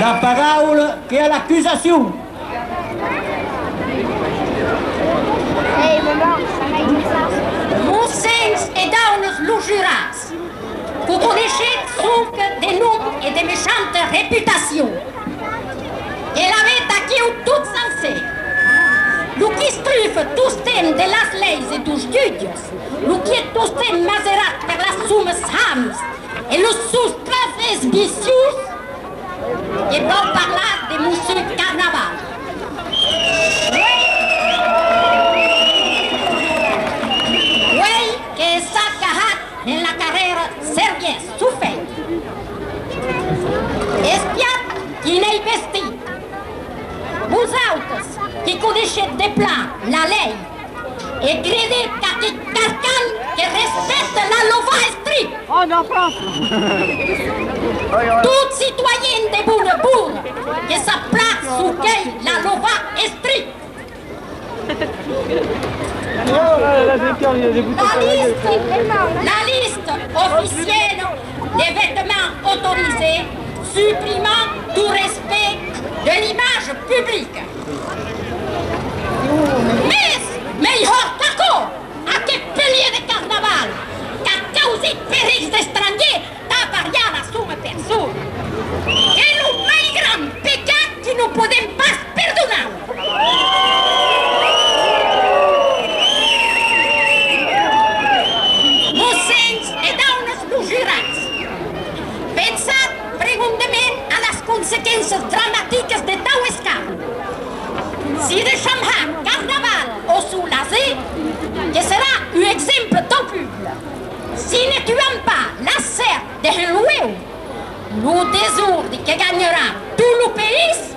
La paraula que a l'acusacion. Vos sens e daunes lo jurats, que coneishetz sonque de nom e de mechanta reputacion, e l'avètz aquiu tot sencer, lo qu'istrufe tostemps de las leis e dos jutges, Lo quiet tostèn maserat per las sumes hams e los suns trasvers vicius que vau parlar de Monsieur Carnaval. Uèi que s'a cahat en la carrèra servièr çò fèit. Espiat qui n'ei vestit. Vosautres qui coneishetz de plan la lei. E credet qu'aqueth carcan que recèsse la lova es tri! Tot citoyen de bona bona que sap plan çò qu'ei la lova es tri! La liste oficièla de vetements autorisés suprimant tot respect de l'image publica. Es melhor qu'aquò, aqueth pelier de carnaval qu'a causit per eis d'estrangier d'avariar la sua persona, qu'es lo mai gran pecat qui non podem pas perdonar. Mossens e daunes lo juratz, pensatz Pregunde-me a las consequenças dramaticas de tau escànd. Si deisham ha Carnaval o suu laser, que serà uu exemple tau publa. Si ne tuam pas l'assèrt dehun lueu, lo desordi que ganharà tuu lo país.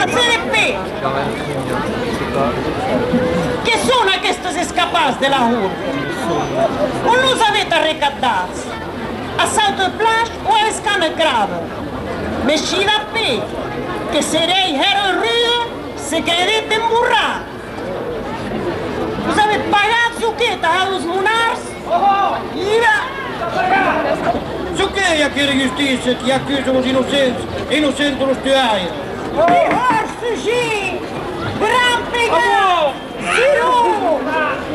Après les faits, qué son aquestes escapats de la rota? On los avèt arrecaptats? A Salteuplage o a Escamecrave? Mès Shilapé, que seréi hèr un rude, se credèt emborrat. Vos avè pagat çò que tà los monards, ira! Çò que i a que de justícia qui acusa los innocents e innocenta los tuaires. Mejor fugir! Gran pegat! Siró!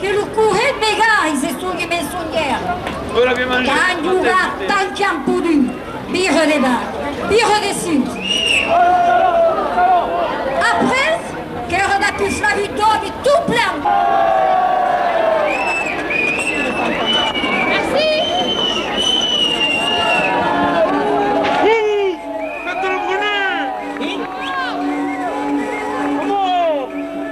Que lo current vegalh se songue mensonguèr. Qu'an jogat tant qu'an podut, birre de bas, birre de sus. Après, qu'èra dapus la vitòria tot plan.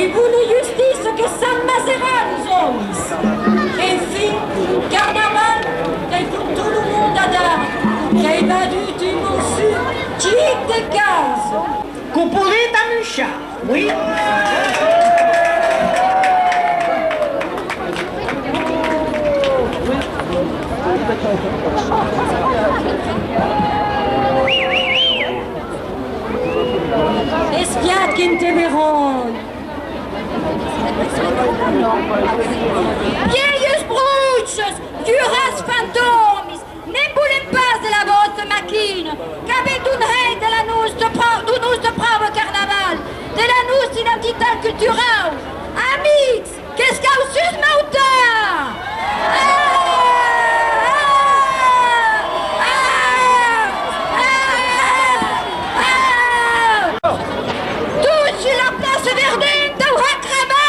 E vòlu justir çò que sap maserar los òmes. Enfin, Carnaval qu'ei com tot lo mond a dar, qu'ei badut un mossut chic de causa. Quo polet amuchar, oui. Espiat que nte veron! Vielhs bruches, dures fantòmis, ne'n volem pas de la vòsta maquina, qu'avètz un hèit de la nòsta pròva, dau nòste pròva carnaval, de la nòsta identitat culturau! Amics! Qu'es cau sus m'auta! Tous sus la plaça verdent dau Hakrama!